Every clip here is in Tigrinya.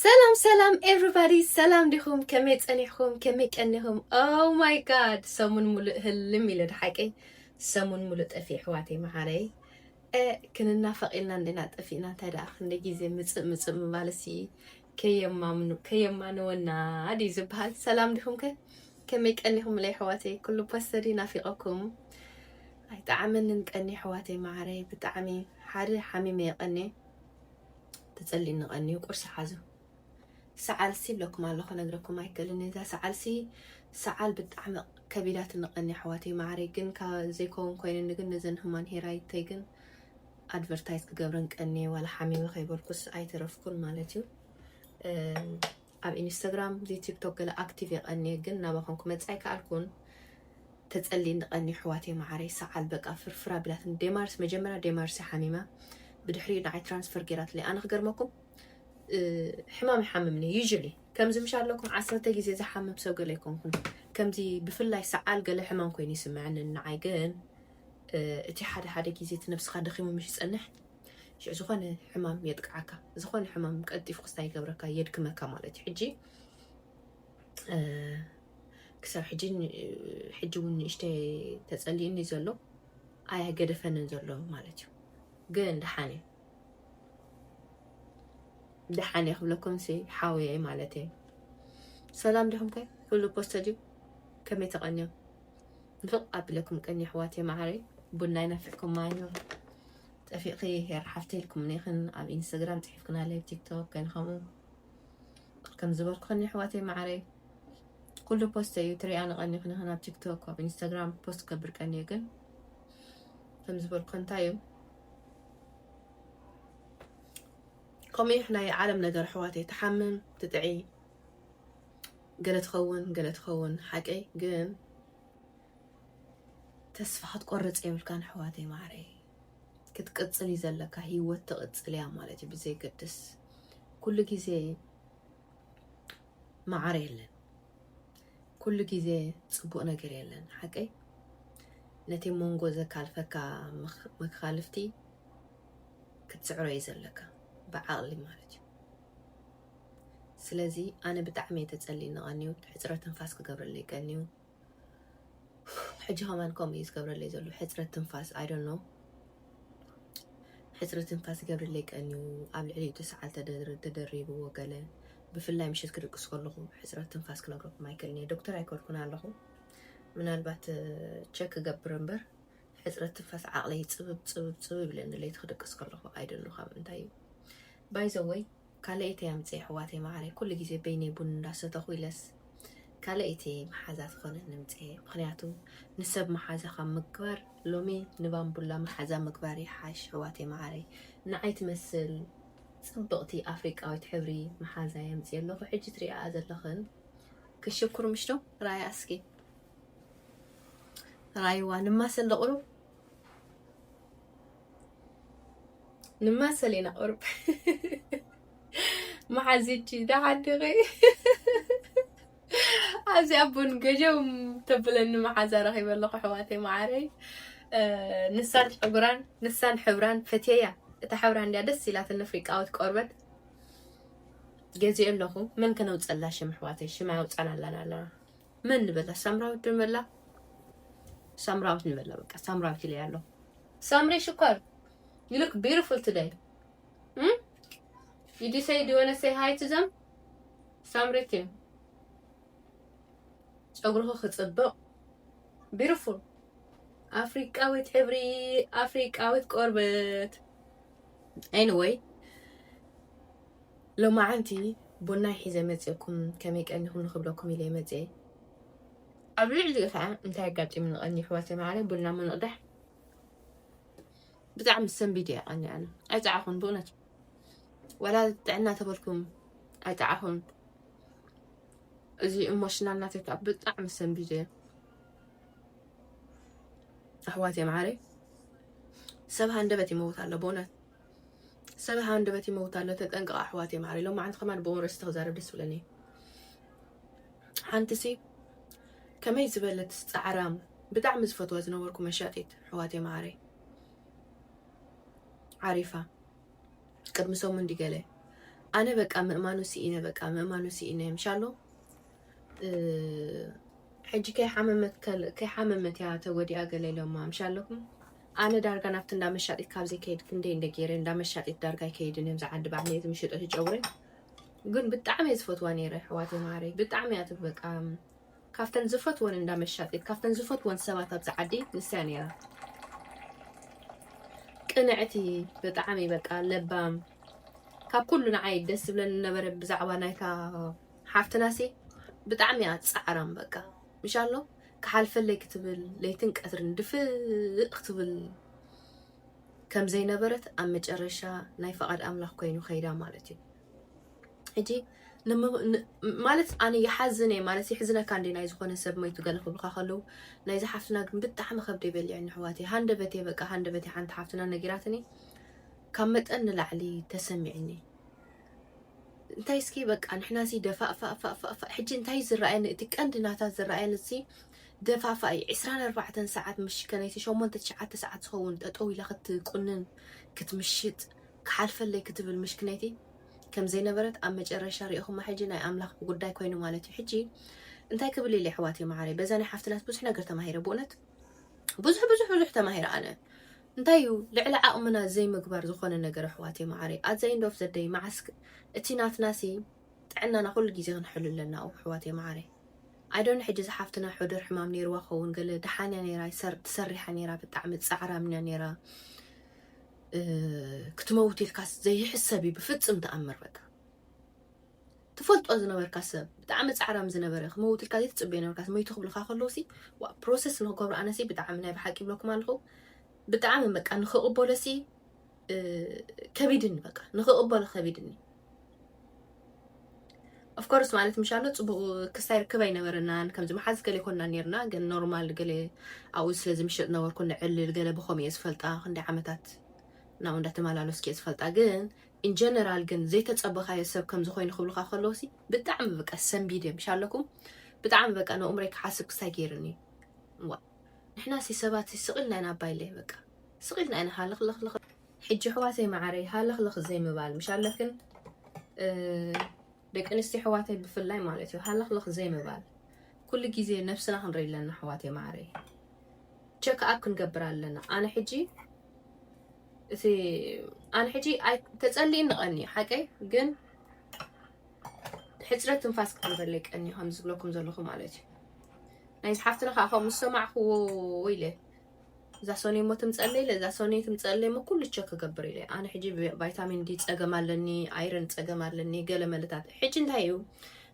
ሰላም ሰላም ኤቭሪባዲ ሰላም ዲኹም ከመይ ጸኒሕኹም ከመይ ቀኒኹም ኦ ማይ ጋድ ሰሙን ሙሉእ ህልም ኢለ ድሓቀይ ሰሙን ሙሉእ ጠፊ ኣሕዋተይ መዓረይ ክንናፈቕ ኢልና እንዴና ጠፊእና እንታይ ደኣ ክንደይ ግዜ ምፅእ ምፅእ ምባልሲ ከየማምኑ ከየማንወና ድዩ ዝበሃል ሰላም ዲኹም ከ ከመይ ቀኒኹም ለይ ኣሕዋተይ ኩሉ ፖስተዲ ናፊቐኩም ኣይጠዓመንን ቀኒ ኣሕዋተይ ማዕረይ ብጣዕሚ ሓደ ሓሚመ የቐኒ ተጸሊኒ ቀንዩ ቁርሲ ሓዙ ሰዓልሲ ኢለኩም ኣሎ ክነግረኩም ኣይክእልን እዛ ሰዓልሲ ሰዓል ብጣዕሚ ከቢዳትኒ ቀኒ ኣሕዋተይ ማዕረይ ግን ካብ ዘይከውን ኮይንኒ ግን ነዘን ህማን ሄራይተይ ግን ኣድቨርታይዝ ክገብረን ቀኒ ዋላ ሓሚመ ከይበልኩስ ኣይተረፍኩን ማለት እዩ ኣብ ኢንስተግራም ዘይ ቲክቶክ ገለ ኣክቲቭ እየ ቀንየ ግን ናባኩም ክመጽእ ኣይከኣልኩን ተጸሊእኒ ቀንየ ኣሕዋተይ መዓረይ ሰዓል በቃ ፍርፍር ኣቢላትኒ ዴማርስ መጀመርያ ዴማርስ እያ ሓሚማ ብድሕሪኡ ንዓይ ትራንስፈር ጌራትለይ ኣነ ክገርመኩም ሕማም ይሓምምኒ ዩዥሊ ከምዚ ምሽ ኣለኩም ዓሰርተ ግዜ ዝሓምም ሰብ ገለ ኣይኮንኩን ከምዚ ብፍላይ ሰዓል ገለ ሕማም ኮይኑ ይስምዐኒ ንዓይ ግን እቲ ሓደ ሓደ ግዜ እቲ ነብስካ ደኺሙ ምሽ ዝጸንሕ ሽዑ ዝኾነ ሕማም የጥቅዓካ ዝኾነ ሕማም ቀልጢፉ ክስታ ይገብረካ የድክመካ ማለት እዩ ሕጂ ክሳብ ሕጂ ሕጂ እውን ንእሽተ ተፀሊእኒ ዘሎ ኣያገደፈንን ዘሎ ማለት እዩ ግን ደሓን እዩ ደሓን እየ ክብለኩም ሲ ሓውየ ማለት እየ ሰላም ዲኹም ከ ኩሉ ፖስተ ድዩ ከመይ ተቐንዮም ንፍቕ ኣቢለኩም ቀኒ ኣሕዋት እየ መዓረይ ቡና ይናፍዕኩም ማይ ጠፊእኺ ሄር ሓፍተይ ኢልኩም ኔክን ኣብ ኢንስተግራም ጽሒፍክናለይ ኣብ ቲክቶክ ገለ ከምኡ ከም ዝበልኩክን ኣሕዋተይ ማዓረይ ኩሉ ፖስተ እዩ ትሪኣ ንቀኒ ክንክን ኣብ ቲክቶክ ኣብ ኢንስተግራም ፖስት ከብር ቀኒ እዩ ግን ከም ዝበልኩ እንታይ እዩ ከምኡ እዩ ናይ ዓለም ነገር ኣሕዋተይ ትሓምም ትጥዒ ገለ ትኸውን ገለ ትኸውን ሓቀይ ግን ተስፋ ክትቆርጽ የብልካን ኣሕዋተይ ማዕረይ ክትቅጽል እዩ ዘለካ ሂወት ትቕጽል እያ ማለት እዩ ብዘይገድስ ኩሉ ግዜ መዓረ የለን ኩሉ ግዜ ጽቡቕ ነገር የለን ሓቀይ ነቲ መንጎ ዘካልፈካ መካልፍቲ ክትስዕሮ እዩ ዘለካ ብዓቕሊ ማለት እዩ ስለዚ ኣነ ብጣዕሚ እየ ተጸሊኒ ቀንዩ ሕፅረት ትንፋስ ክገብረለይ ቀንዩ ሕጂ ከማን ከምኡ እዩ ዝገብረለይ ዘሎ ሕፅረት ትንፋስ ኣይ ዶንት ኖው ሕፅረት ትንፋስ ይገብረለይ ቀንዩ ኣብ ልዕሊኡ ትስዓል ተደሪብዎ ገለ ብፍላይ ምሽት ክድቅስ ከለኹ ሕፅረት ትንፋስ ክነግረኩም ኣይክእልን እየ ዶክተር ኣይኮንኩን ኣለኹ ምናልባት ቸክ ክገብር እምበር ሕፅረት ትንፋስ ዓቕለይ ፅብብ ፅብብ ፅብብ ኢለኒ ለይቲ ክድቅስ ከለኹ ኣይ ዶንት ኖው ካብ እንታይ እዩ ባይ ዘ ወይ ካልኣይተይ ኣምፅእ የሕዋተይ ማዓረይ ኩሉ ግዜ በይነይ ቡን እንዳሰተኩ ኢለስ ካልኣይቲ ማሓዛ ትኮነኒ ምፅእ ምክንያቱ ንሰብ ማሓዛ ካብ ምግባር ሎሚ ንባንቡላ ማሓዛ ምግባር ይሓሽ ኣሕዋተይ ማዓረይ ናዓይ ትመስል ፅብቅቲ ኣፍሪቃዊት ሕብሪ ማሓዛ የምፅእ ኣለኩ ሕጂ ትሪኣኣ ዘለክን ክሽኩር ምሽ ዶ ራኣያ እስኪ ራይዋ ንማሰ እንደ ቅሩብ ንማ ሰሌና ቁርብ መሓዚቲ ዳሓድኺ ኣብዚ ኣቡን ገጀም ተብለኒ መሓዛ ረኺበ ኣለኹ ኣሕዋተይ መዓረይ ንሳን ሕብራን ንሳን ሕብራን ፈትየያ እታ ሕብራ እንድያ ደስ ኢላትኒ ኣፍሪቃዊት ቆርበት ገዚኦ ኣለኹ መን ከነውፀላ ሽም ኣሕዋተይ ሽም ኣውፃን ኣለና ኣለና መን ንበላ? ሳምራዊት ዶ ንበላ? ሳምራዊት ንበላ። በቃ ሳምራዊት ኢለ ያለው ሳምሪ ሽኮር ዩ ሉክ ቢዩቲፉል ቱደይ ዩ ዲ ሰይ ዱ ዋና ሰይ ሃይ ቱ ዘም ሳምሪት ዩ ፀጉርኺ ክፅብቕ ቢዩቲፉል ኣፍሪቃዊት ሕብሪ ኣፍሪቃዊት ቆርበት ኤኒወይ ሎማዓንቲ ቡናይ ሒዘ መጽየኩም ከመይ ቀኒኩም ንክብለኩም ኢለየ መጽየ ኣብ ልዕሊኡ ከኣ እንታይ ኣጋጢሙኒ ቀኒ ይሕዋተይ መዓረይ ቡና ምንቕዳሕ ብጣዕሚ ሰንቢድ እየ ቀኒ ኣነ ኣይጸዓኹን ብእውነት ወላ ጥዕና ተበልኩም ኣይጠዓኹን እዚ ኢሞሽናል ናተይ ከዓ ብጣዕሚ ሰንቢደ ኣሕዋት የምዓረይ ሰብ ሃንደበት ይመውት ኣሎ ብእውነት ሰብ ሃንደበት ይመውት ኣሎ ተጠንቀቕ ኣሕዋትየ ማዓረይ ሎማዓንቲ ከማን ብኡን ርእሲ ተክዛረብ ደስ ብለኒ ሓንትሲ ከመይ ዝበለት ጻዕራም ብጣዕሚ ዝፈትዋ ዝነበርኩ መሻጢት ኣሕዋትየ ማዓረይ ዓሪፋ ቅድሚ ሰሙን ዲገለ ኣነ በቃ ምእማኑ ሲኢነ በቃ ምእማኑ ሲኢነ ምሻሎ ሕጂ ከይሓመመት እያ ተወዲኣ ገለ ኢሎማ ምሽ ኣለኩም ኣነ ዳርጋ ናብቲ እንዳ መሻጢት ካብ ዘይከይድ ክንደይ እንደ ገይረ እንዳ መሻጢት ዳርጋ ኣይከይድን እዮም ዝዓዲ ባዕለ እቲ ምሽጦ ትጨውረ ግን ብጣዕሚ እየ ዝፈትዋ ነይረ ኣሕዋት ማረይ ብጣዕሚ እያ ትበቃ ካብተን ዝፈትወን እንዳ መሻጢት ካብተን ዝፈትወን ሰባት ኣብዚ ዓዲ ንስያ ነይራ ቅንዕቲ ብጣዕሚ በቃ ለባም ካብ ኩሉ ንዓይ ደስ ዝብለኒ ነበረ ብዛዕባ ናይታ ሓፍትናሲ ብጣዕሚ እያ ጻዕራም በቃ ምሻሎ ክሓልፈለይ ክትብል ለይትን ቀትርን ድፍእ ክትብል ከም ዘይነበረት ኣብ መጨረሻ ናይ ፈቓድ ኣምላኽ ኮይኑ ከይዳ ማለት እዩ ሕጂ ማለት ኣነ ይሓዝን እየ ማለት ይሕዝነካ እንደ ናይ ዝኾነ ሰብ መይቱ ገለ ክብልካ ከለዉ ናይዚ ሓፍትና ግን ብጣዕሚ ከብደ ይበልዐኒ ኣሕዋት እየ ሃንደበት እየ በቃ ሃንደበት እየ ሓንቲ ሓፍትና ነጊራትኒ ካብ መጠን ንላዕሊ ተሰሚዕኒ እንታይ እስኪ በቃ ንሕና እዚ ደፋእፋእፋእፋእ ሕጂ እንታይ እዩ ዝረኣየኒ እቲ ቀንዲ ናታ ዝረኣየኒ እዚ ደፋእፋእ እዩ ዕስራን ኣርባዕተን ሰዓት ምሽ ከነይቲ ሸሞንተ ትሽዓተ ሰዓት ዝኸውን ጠጠው ኢላ ክትቁንን ክትምሽጥ ክሓልፈለይ ክትብል ምሽ ክነይቲ ከም ዘይነበረት ኣብ መጨረሻ ሪኢኹማ ሕጂ ናይ ኣምላኽ ጉዳይ ኮይኑ ማለት እዩ ሕጂ እንታይ ክብል ኢለ ኣሕዋተይ መዓረይ በዛ ናይ ሓፍትናት ብዙሕ ነገር ተማሂረ ብእውነት ብዙሕ ብዙሕ ብዙሕ ተማሂረ ኣነ እንታይ እዩ ልዕሊ ዓቕምና ዘይምግባር ዝኾነ ነገር ኣሕዋተይ መዓረይ ኣት ዘ ኢንድ ኦፍ ዘ ደይ መዓስ እቲ ናትናሲ ጥዕናና ኩሉ ግዜ ክንሕሉ ኣለና ኣሕዋተይ መዓረይ ኣይዶን ሕጂ ዝሓፍትና ሑደር ሕማም ነይርዋ ኸውን ገለ ድሓን እያ ነይራ ትሰሪሓ ነይራ ብጣዕሚ ፃዕራም እያ ነይራ ክትመውት ኢልካስ ዘይሕሰብ እዩ ብፍፅም ተኣምር በቃ ትፈልጦ ዝነበርካ ሰብ ብጣዕሚ ጻዕራም ዝነበረ ክመውት ኢልካ ዘይትጽበዮ ነበርካ መይቱ ክብልካ ከለውሲ ዋ ፕሮሰስ ንክገብሮ ኣነሲ ብጣዕሚ ናይ ብሓቂ ይብለኩም ኣለኹ ብጣዕሚ በቃ ንክቕበሎሲ ከቢድኒ በቃ ንክቕበሎ ከቢድኒ ኦፍኮርስ ማለት ምሻሎ ፅቡቅ ክስታይ ርክብ ኣይነበረናን ከምዚ መሓዝ ገለ ይኮና ነርና ግን ኖርማል ገለ ኣብኡ ስለ ዝምሽጥ ነበርኩ ንዕልል ገለ ብከምኡ እየ ዝፈልጣ ክንደይ ዓመታት ናብኡ እንዳተመላለስኩ እየ ዝፈልጣ ግን in general ግን ዘይተጸበኻዮ ሰብ ከምዚ ኮይኑ ክብሉኻ ከለዉ ሲ ብጣዕሚ በቃ ሰንቢድ እዮም እሺ ኣለኩም ብጣዕሚ በቃ ነኡምረይ ክሓስብ ክስታይ ገይርኒ ዋእ ንሕና ሲ ሰባት ሲ ስቅ ኢልና ኢና ኣባይለይ በቃ ስቅ ኢልና ኢና ሃለኽለኽለኽ ሕጂ ኣሕዋተይ መዓረይ ሃለኽለኽ ዘይምባል ምሽ ኣለክን ደቂ ኣንስትዮ ኣሕዋተይ ብፍላይ ማለት እዩ ሃለኽለኽ ዘይምባል ኩሉ ግዜ ነብስና ክንርኢ ኣለና ኣሕዋተይ ማዓረይ ቸክ ኣብ ክንገብር ኣለና ኣነ ሕጂ እቲ ኣነ ሕጂ ተጸሊእኒ ቀንዩ ሓቀይ ግን ሕፅረት ትንፋስ ክትንበለይ ቀኒ ከም ዝብለኩም ዘለኹ ማለት እዩ ናይ ዝሓፍትና ከዓ ከምኡ ዝሰማዕክዎ ኢለ እዛ ሰኑይ እሞ ትምፀለይ ኢለ እዛ ሰኑይ ትምፀለይ እሞ ኩሉ ቸክ ክገብር ኢለ ኣነ ሕጂ ቫይታሚን ዲ ፀገም ኣለኒ ኣይረን ፀገም ኣለኒ ገለ መለታት ሕጂ እንታይ እዩ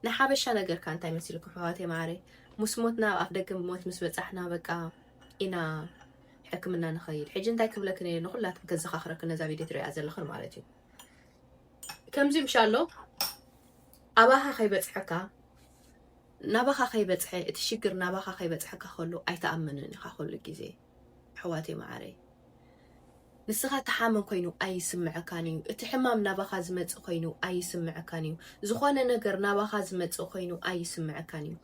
ንሓበሻ ነገርካ እንታይ መሲልኩ ሕዋቴ ማዕረይ ምስ ሞትና ኣብ ኣፍ ደገ ሞት ምስ በፃሕና በቃ ኢና ሕክምና ንኸይድ ሕጂ እንታይ ክብለክ ነ ንኩላትም ከዘኻኽረክ ነዛ ቪድዮ ትሪኣ ዘለኽን ማለት እዩ ከምዚ ምሻሎ ኣባኻ ከይበፅሐካ ናባኻ ከይበጽሐ እቲ ሽግር ናባኻ ከይበጽሐካ ከሎ ኣይትኣምንን ኢኻ ኩሉ ግዜ ኣሕዋተይ መዓረይ ንስኻ ትሓምም ኮይኑ ኣይስምዐካን እዩ እቲ ሕማም ናባኻ ዝመጽእ ኮይኑ ኣይስምዐካን እዩ ዝኾነ ነገር ናባኻ ዝመጽእ ኮይኑ ኣይስምዐካን እዩ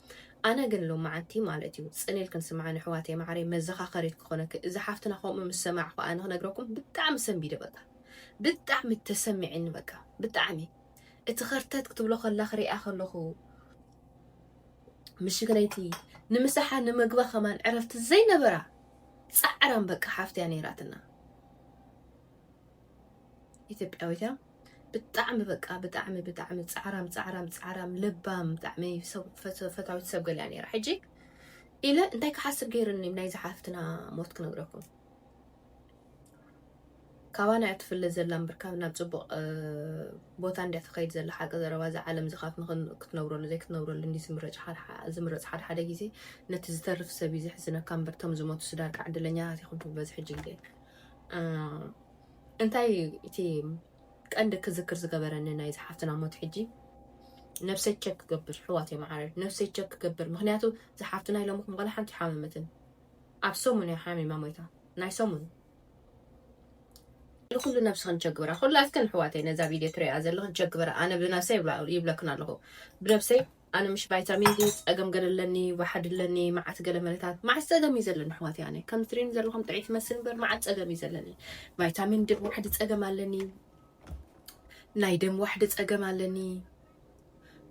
ኣነ ግን ሎማዓንቲ ማለት እዩ ጽኔል ክንስምዓ ንሕዋተይ መዓረይ መዘኻኸሪት ክኾነኪ እዚ ሓፍትና ከምኡ ምስ ሰማዕኹ ኣነ ክነግረኩም ብጣዕሚ ሰንቢደ በቃ ብጣዕሚ ተሰሚዕኒ በቃ ብጣዕሚ እቲ ከርተት ክትብሎ ከላ ክሪኣ ከለኩ ምሽግ ለይቲ ንምሳሓ ንምግባ ከማን ዕረፍቲ ዘይነበራ ጻዕራም በቃ ሓፍትያ ነይራትና ኢትዮጵያዊት እያ ብጣዕሚ በቃ ብጣዕሚ ብጣዕሚ ጻዕራም ጻዕራም ጻዕራም ለባም ብጣዕሚ ፈታዊት ሰብ ገሊያ ነይራ ሕጂ ኢለ እንታይ ክሓስብ ገይርኒ ናይ ዝሓፍትና ሞት ክነግረኩም ካባና እያ ትፍለ ዘላ እምበር ካብ ናብ ፅቡቕ ቦታ እንድያ ትኸይድ ዘላ ሓቂ ዘረባ እዚ ዓለም እዚ ካብ ክትነብረሉ ዘይክትነብረሉ እንዲ ዝምረፅ ዝምረፅ ሓደ ሓደ ግዜ ነቲ ዝተርፍ ሰብ እዩ ዘሕዝነካ እምበር እቶም ዝሞቱ ስዳርካ ዕድለኛታት ይኹን ትብሎ እዚ ሕጂ ግዜ እንታይ እቲ ቀንዲ ክዝክር ዝገበረኒ ናይ ዝሓፍትና ሞት ሕጂ ነብሰይ ቸክ ክገብር ሕዋት እዮም ዓረር ነብሰይ ቸክ ክገብር ምክንያቱ ዝሓፍትና ኢሎምኹም ዋላ ሓንቲ ሓመመትን ኣብ ሰሙን እያ ሓሚማ ሞይታ ናይ ሰሙን። ንኹሉ ነብስኽን ቸግብራ ኩላትክን ኣሕዋተይ ነዛ ቪድዮ ትሪኣ ዘለኽን ቸግብራ ኣነ ብነብሰይ ይብለክን ኣለኹ ብነብሰይ ኣነ ምሽ ቫይታሚን ዲ ፀገም ገለ ኣለኒ ዋሓድ ኣለኒ መዓት ገለ መለታት መዓት ፀገም እዩ ዘለኒ ኣሕዋት ኣነ ከም ትሪኒ ዘለኹም ጥዒት መስል እምበር መዓት ፀገም እዩ ዘለኒ ቫይታሚን ዲ ዋሕዲ ፀገም ኣለኒ ናይ ደም ዋሕዲ ፀገም ኣለኒ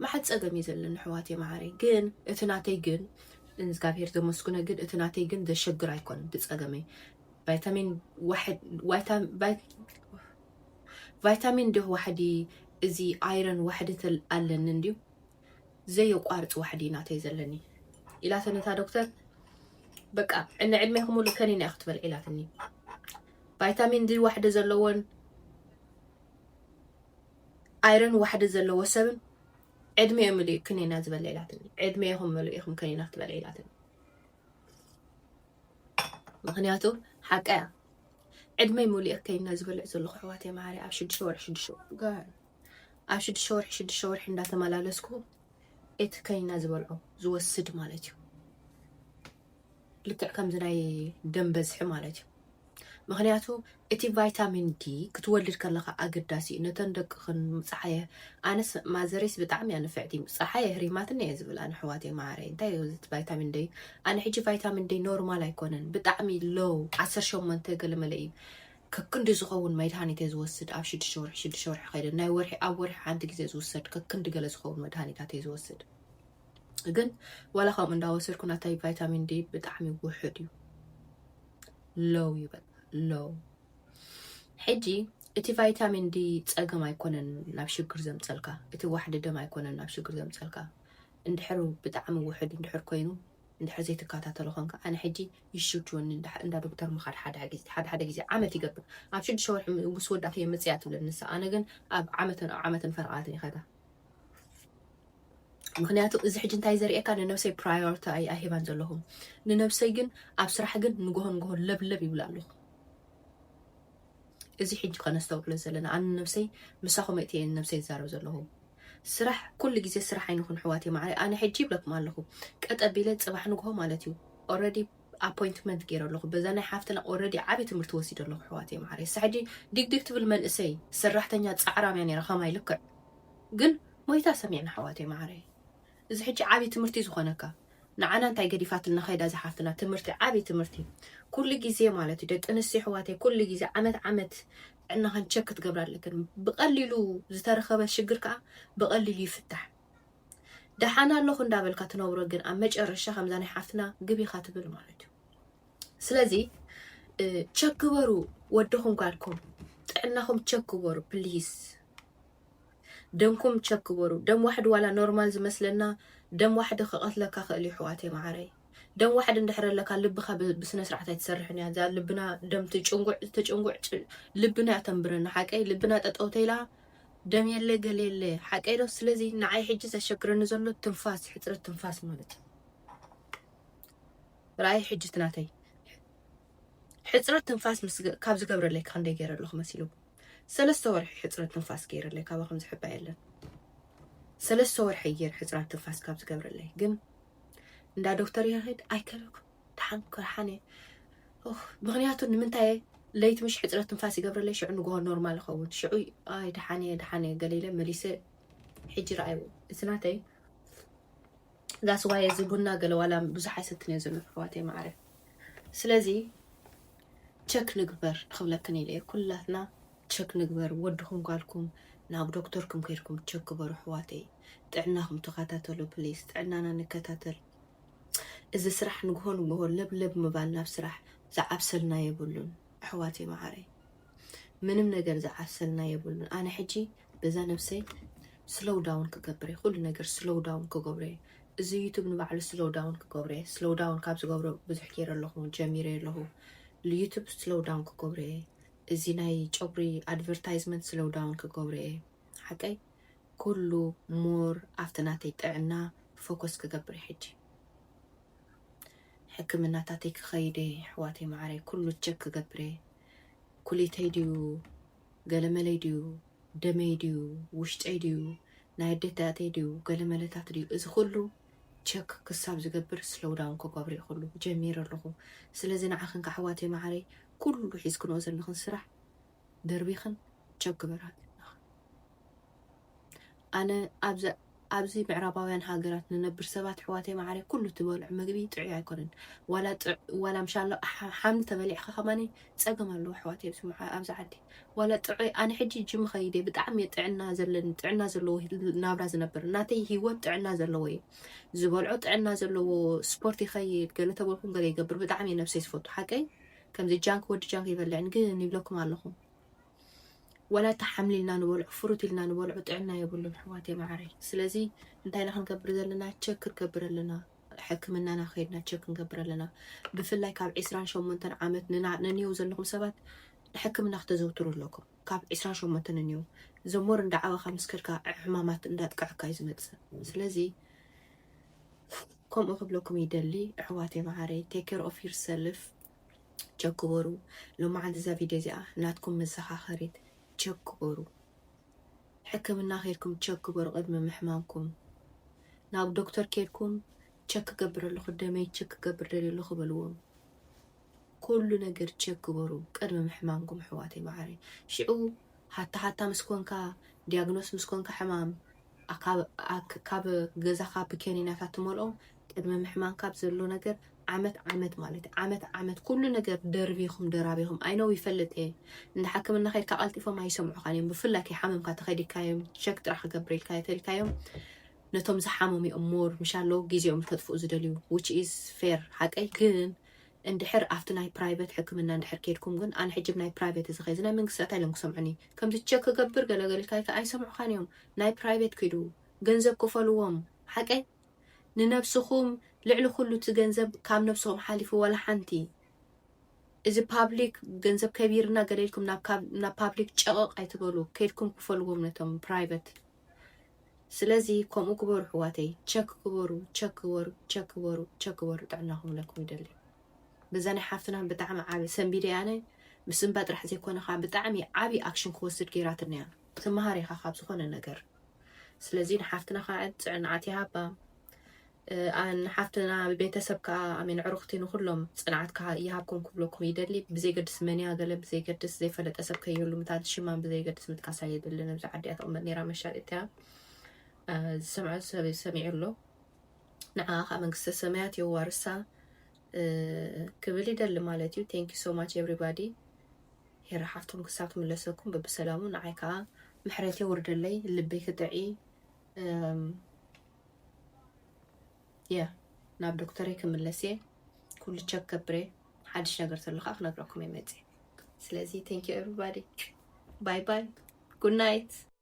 ማዓት ፀገም እዩ ዘለኒ ኣሕዋተይ ማዓረይ ግን እቲ ናተይ ግን ንእዝጋብሄር ዘመስግኖ ግን እቲ ናተይ ግን ዘሸግር ኣይኮነን እቲ ፀገመይ ቫይታሚን ቫይታሚን እንዲሁ ዋሕዲ እዚ ኣይረን ዋሕዲ ኣለኒ እንዲሁ ዘየቋርፅ ዋሕዲ ናተይ ዘለኒ ኢላተ ነታ ዶክተር በቃ ንዕድሜ ክሙሉ ከኒና እዩ ክትበልዕ ኢላትኒ ቫይታሚን ዲ ዋሕዲ ዘለዎን ኣይረን ዋሕዲ ዘለዎ ሰብን ዕድሜኡ ምሉእ ክኒና ዝበለ ኢላትኒ ዕድሜኹም ምሉእ ኢኹም ከኒና ክትበልዕ ኢላትኒ ምክንያቱ ሓቃ እያ ዕድመይ ሙሉእ ከይና ዝበልዕ ዘለኹ ኣሕዋት የማሃሪ ኣብ ሽዱሽተ ወርሒ ሽዱሽተ ወርሒ ጋር ኣብ ሽዱሽተ ወርሒ ሽዱሽተ ወርሒ እንዳተመላለስኩ እቲ ከኒና ዝበልዖ ዝወስድ ማለት እዩ ልክዕ ከምዚ ናይ ደም በዝሒ ማለት እዩ ምክንያቱ እቲ ቫይታሚን ዲ ክትወልድ ከለካ ኣገዳሲ እዩ ነተን ደቅክን ፀሓየ ኣነስ ማዘሬስ ብጣዕሚ እያ ንፍዕቲ ፀሓየ ህሪማትን እየ ዝብል ኣነ ሕዋተይ ማዓረይ እንታይ እዩ ቫይታሚን ደይ ኣነ ሕጂ ቫይታሚን ደይ ኖርማል ኣይኮነን ብጣዕሚ ሎው ዓሰርተ ሸሞንተ ገለመለ እዩ ከክንዲ ዝኸውን መድሃኒት'የ ዝወስድ፣ ኣብ ሽዱሽተ ወርሒ ሽዱሽተ ወርሒ ከይደ፣ ናይ ወርሒ ኣብ ወርሒ ሓንቲ ግዜ ዝውሰድ ከክንዲ ገለ ዝኸውን መድሃኒታት'የ ዝወስድ። ግን ዋላ ከምኡ እንዳወሰድኩ ናተይ ቫይታሚን ዲ ብጣዕሚ ውሑድ እዩ፣ ሎው እዩ በቃ ሎው። ሕጂ እቲ ቫይታሚን ዲ ጸገም ኣይኮነን ናብ ሽግር ዘምጸልካ፣ እቲ ዋሕዲ ደም ኣይኮነን ናብ ሽግር ዘምጸልካ፣ እንድሕር ብጣዕሚ ውሑድ እንድሕር ኮይኑ እንድሕር ዘይትካታተሎ ኮንካ ኣነ ሕጂ ይሽግወኒ እንዳ እንዳ ዶክተር ምካድ ሓደ ሓደ ግዜ ሓደ ሓደ ግዜ ዓመት ይገብር ኣብ ሽዱሽተ ወርሒ ምስ ወዳኪ እየ ምጽያ ትብለኒ ንሳ ኣነ ግን ኣብ ዓመትን ኣብ ዓመትን ፈረቃትን ይከዳ ምክንያቱ እዚ ሕጂ እንታይ ዘርእየካ ንነብሰይ ፕራዮሪቲ ኣይ ኣይህባን ዘለኹ ንነብሰይ ግን ኣብ ስራሕ ግን ንጎሆ ንጎሆ ለብለብ ይብላ ኣለኹ እዚ ሕጂ ከነስተውዕሎ ዘለና ኣነ ንነብሰይ ምሳኹም ኣእትየ እየ ንነብሰይ ዝዛረብ ዘለኹ ስራሕ ኩሉ ግዜ ስራሕ ኣይንኹን ኣሕዋትየ ማዓረይ ኣነ ሕጂ ይብለኩም ኣለኹ ቀጥ ኣቢለ ጽባሕ ንግሆ ማለት እዩ ኦረዲ ኣፖይንትመንት ገይረ ኣለኹ በዛ ናይ ሓፍትና ኦረዲ ዓቢ ትምህርቲ ወሲደ ኣለኹ ኣሕዋትየ ማዓረይ እሳ ሕጂ ዲግዲግ ትብል መንእሰይ ሰራሕተኛ ጻዕራም እያ ነይራ ከማይ ልክዕ ግን ሞይታ ሰሚዕና ኣሕዋትየ ማዓረይ እዚ ሕጂ ዓቢ ትምህርቲ ዝኾነካ ንዓና እንታይ ገዲፋትልና ከይዳ እዛ ሓፍትና ትምህርቲ ዓቢ ትምህርቲ ኩሉ ግዜ ማለት እዩ ደቂ ኣንስትዮ ኣሕዋተይ ኩሉ ግዜ ዓመት ዓመት ጥዕናኽን ቸክ ክትገብራ ኣለክን ብቀሊሉ ዝተረኸበ ሽግር ከዓ ብቀሊሉ ይፍታሕ ደሓን ኣለኹ እንዳበልካ ትነብሮ ግን ኣብ መጨረሻ ከምዛ ናይ ሓፍትና ግብ ኢኻ ትብል ማለት እዩ ስለዚ ቸክ ግበሩ ወድኹም ጓልኩም ጥዕናኹም ቸክ ግበሩ ፕሊስ ደምኩም ቸክ ግበሩ ደም ዋሕዲ ዋላ ኖርማል ዝመስለና ደም ዋሕዲ ክቀትለካ ክእል እዩ ኣሕዋተይ ማዓረይ ደም ዋሕዲ እንድሕር ኣለካ ልብካ ብስነስርዓት ኣይትሰርሕን እያ እዛ ልብና ደም ትጭንጉዕ ተጭንጉዕ ልብና እያ ተንብረና ሓቀይ ልብና ጠጠው ተይላ ደም የለ ገለ የለ ሓቀይ ዶ ስለዚ ንዓይ ሕጂ ዘሸግረኒ ዘሎ ትንፋስ ሕፅረት ትንፋስ ማለት እዩ ራእይ ሕጂ ትናተይ ሕጽረት ትንፋስ ምስ ካብ ዝገብረለይ ክንደይ ገይረ ኣለኹ መሲሉ ሰለስተ ወርሒ ሕጽረት ትንፋስ ገይረለይ ካባኹም ዝሕባ የለን ሰለስተ ወርሒ ገይር ሕጽራት ትንፋስ ካብ ዝገብረለይ ግን እንዳ ዶክተር ይኸድ ኣይከልኩ ድሓን ክርሓን እየ ምክንያቱ ንምንታይ ለይቲ ምሽ ሕፅረት ትንፋስ ይገብረለይ ሽዑ ንግሆ ኖርማል ይኸውን ሽዑ ኣይ ድሓን እየ ድሓን እየ ገለ ኢለ መሊሰ ሕጂ ረኣይዎ እዚ ናተይ That's why እዚ ቡና ገለ ዋላ ብዙሕ ኣይሰትን እየ ዘሎ ኣሕዋተይ ማዓረ ስለዚ ቸክ ንግበር ክብለክን ኢለ እየ ኩላትና ቸክ ንግበር ወድኩም ጓልኩም ናብ ዶክተርኩም ከይድኩም ቸክ ግበሩ ኣሕዋተይ ጥዕናኩም ተከታተሉ ፕሊስ ጥዕናና ንከታተል እዚ ስራሕ ንግሆ ንግሆ ለብለብ ምባል ናብ ስራሕ ዝዓብሰልና የብሉን ኣሕዋተይ ማዓረይ ምንም ነገር ዝዓሰልና የብሉን ኣነ ሕጂ በዛ ነብሰይ ስሎው ዳውን ክገብር እየ ኩሉ ነገር ስሎው ዳውን ክገብሮ እየ እዚ ዩቱብ ንባዕሉ ስሎው ዳውን ክገብሮ እየ ስሎው ዳውን ካብ ዝገብሮ ብዙሕ ገይረ ኣለኹ ጀሚረ ኣለኹ ዩቱብ ስሎው ዳውን ክገብሮ እየ እዚ ናይ ጨጉሪ ኣድቨርታይዝመንት ስሎው ዳውን ክገብሮ እየ ሓቀይ ኩሉ ሞር ኣብቲ ናተይ ጥዕና ፎከስ ክገብር እየ ሕጂ ሕክምናታተይ ክኸይድ እየ ኣሕዋተይ መዓረይ ኩሉ ቸክ ክገብር እየ ኩሊተይ ድዩ ገለመለይ ድዩ ደመይ ድዩ ውሽጠይ ድዩ ናይ ኣዴታተይ ድዩ ገለመለታት ድዩ እዚ ኩሉ ቸክ ክሳብ ዝገብር ስሎው ዳውን ክገብሮ እዩ ኩሉ ጀሚረ ኣለኹ ስለዚ ንዓኽን ካሕዋተይ መዓረይ ኩሉ ሒዝክንኦ ዘለኽን ስራሕ ደርቢኽን ቸክ ግበራ ኣነ ኣብዚ ኣብዚ ምዕራባውያን ሃገራት ንነብር ሰባት ኣሕዋተይ መዓረይ ኩሉ ትበልዑ ምግቢ ጥዑይ ኣይኮነን ዋላ ዋላ ምሻሎ ሓምሊ ተበሊዕካ ከማኒ ጸገም ኣለዎ ኣሕዋተይ ኣብዚ ኣብዚ ዓዲ ዋላ ጥዑይ ኣነ ሕጂ ጅም ኸይደ ብጣዕሚ እየ ጥዕና ዘለኒ ጥዕና ዘለዎ ናብራ ዝነብር ናተይ ሂወት ጥዕና ዘለዎ እዩ ዝበልዖ ጥዕና ዘለዎ ስፖርት ይኸይድ ገለ ተበልኩም ገለ ይገብር ብጣዕሚ እየ ነብሰይ ዝፈቱ ሓቀይ ከምዚ ጃንክ ወዲ ጃንክ ይበልዕን ግን ይብለኩም ኣለኹ ዋላ እቲ ሓምሊ ኢልና ንበልዖ ፍሩት ኢልና ንበልዖ ጥዕና የብሉን ኣሕዋተይ መዓረይ ስለዚ እንታይ ኢና ክንገብር ዘለና ቸክ ክንገብር ኣለና ሕክምናና ከይድና ቸክ ክንገብር ኣለና ብፍላይ ካብ 28 ዓመት ንንየው ዘለኹም ሰባት ንሕክምና ክተዘውትሩ ኣለኩም ካብ 28 ንንየው ዘሞር እንዳዓበኻ ምስ ከድካ ሕማማት እንዳጥቅዐካ እዩ ዝመፅእ ስለዚ ከምኡ ክብለኩም ይደሊ ኣሕዋተይ መዓረይ ቴክ ኬር ኦፍ ዩር ሰልፍ ቸክ ግበሩ ሎማዓንቲ እዛ ቪድዮ እዚኣ ናትኩም መዘኻኸሪት ቸክ ግበሩ ሕክምና ከድኩም ቸክ ግበሩ ቅድሚ ምሕማምኩም ናብ ዶክተር ከድኩም ቸክ ክገብር ኣለኹ ደመይ ቸክ ክገብር ደልየ ኣለኹ በልዎም ኩሉ ነገር ቸክ ግበሩ ቅድሚ ምሕማምኩም ኣሕዋተይ መዓረይ ሽዑ ሃታ ሃታ ምስ ኮንካ ዲያግኖስ ምስ ኮንካ ሕማም ካብ ገዛኻ ብኬኒናታት ትመልኦም ቅድመ ምሕማም ካብ ዘሎ ነገር ዓመት ዓመት ማለት እዩ ዓመት ዓመት ኩሉ ነገር ደርቢኹም ደራቢኹም ኣይነው ይፈልጥ እየ እንደ ሓክምና ከድካ ቀልጢፎም ኣይሰምዑኻን እዮም ብፍላይ ከይሓመምካ ተኸዲካዮም ሸክ ጥራሕ ክገብረልካ እየ ተልካዮም ነቶም ዝሓመሙ እዮም ሞር ምሻ ኣለዉ ግዜኦም ከጥፍኡ ዝደልዩ ዊች ኢዝ ፌር ሓቀይ ግን እንድሕር ኣብቲ ናይ ፕራይቬት ሕክምና እንድሕር ከድኩም ግን ኣነ ሕጅብ ናይ ፕራይቬት እዚ ከዚ ናይ መንግስቲ እንታይ ኢሎም ክሰምዑኒ ከምዚ ቸክ ክገብር ገለገልካይ ከ ኣይሰምዑኻን እዮም ናይ ፕራይቬት ክዱ ገንዘብ ክፈልዎም ሓቀይ ንነብስኹም ልዕሊ ኩሉ እቲ ገንዘብ ካብ ነብስኹም ሓሊፉ ዋላ ሓንቲ እዚ ፓብሊክ ገንዘብ ከቢርና ገለ ኢልኩም ናብ ፓብሊክ ጨቕቕ ኣይትበሉ ከድኩም ክፈልዎም ነቶም ፕራይቨት ስለዚ ከምኡ ግበሩ ሕዋተይ ቸክ ግበሩ ቸክ ግበሩ ቸክ ግበሩ ቸክ ግበሩ ጥዕናኹም ለኩም ይደሊ በዛ ናይ ሓፍትና ብጣዕሚ ዓቢ ሰንቢደ ኣነ ምስ እምባ ጥራሕ ዘይኮነ ከዓ ብጣዕሚ ዓቢ ኣክሽን ክወስድ ገይራትኒ እያ ትመሃር ኢኻ ካብ ዝኾነ ነገር ስለዚ ንሓፍትና ከዓ ፅዕንዓት ይሃባ ንሓፍትና ቤተሰብ ከዓ ኣሜን ዕሩኽቲ ንኩሎም ፅንዓት ከዓ ይሃብኩም ክብለኩም ይደሊ ብዘይገድስ መንያ ገለ ብዘይገድስ ዘይፈለጠ ሰብ ከይህሉ ምታት ሽማን ብዘይገድስ ምጥቃስ ኣየድልን ኣብዚ ዓዲ እያ ተቕመጥ ነይራ መሻሪት እያ ዝሰምዖ ሰብ ሰሚዑ ኣሎ ንዓ ከዓ መንግስተ ሰማያት የዋርሳ ክብል ይደሊ ማለት እዩ ቴንኪ ሶ ማች ኤቭሪባዲ ሄራ ሓፍቶም ክሳብ ትምለሰኩም ብብሰላሙ ንዓይ ከዓ ምሕረት የውርደለይ ልበይ ክጥዒ የ ናብ ዶክተረይ ክምለስ እየ ኩሉ ቸክ ከብረ ሓድሽ ነገር ተሎ ከዓ ክነግረኩም እየ መፅእ ስለዚ ቴንኪ ኤቭሪባዲ ባይ ባይ ጉድ ናይት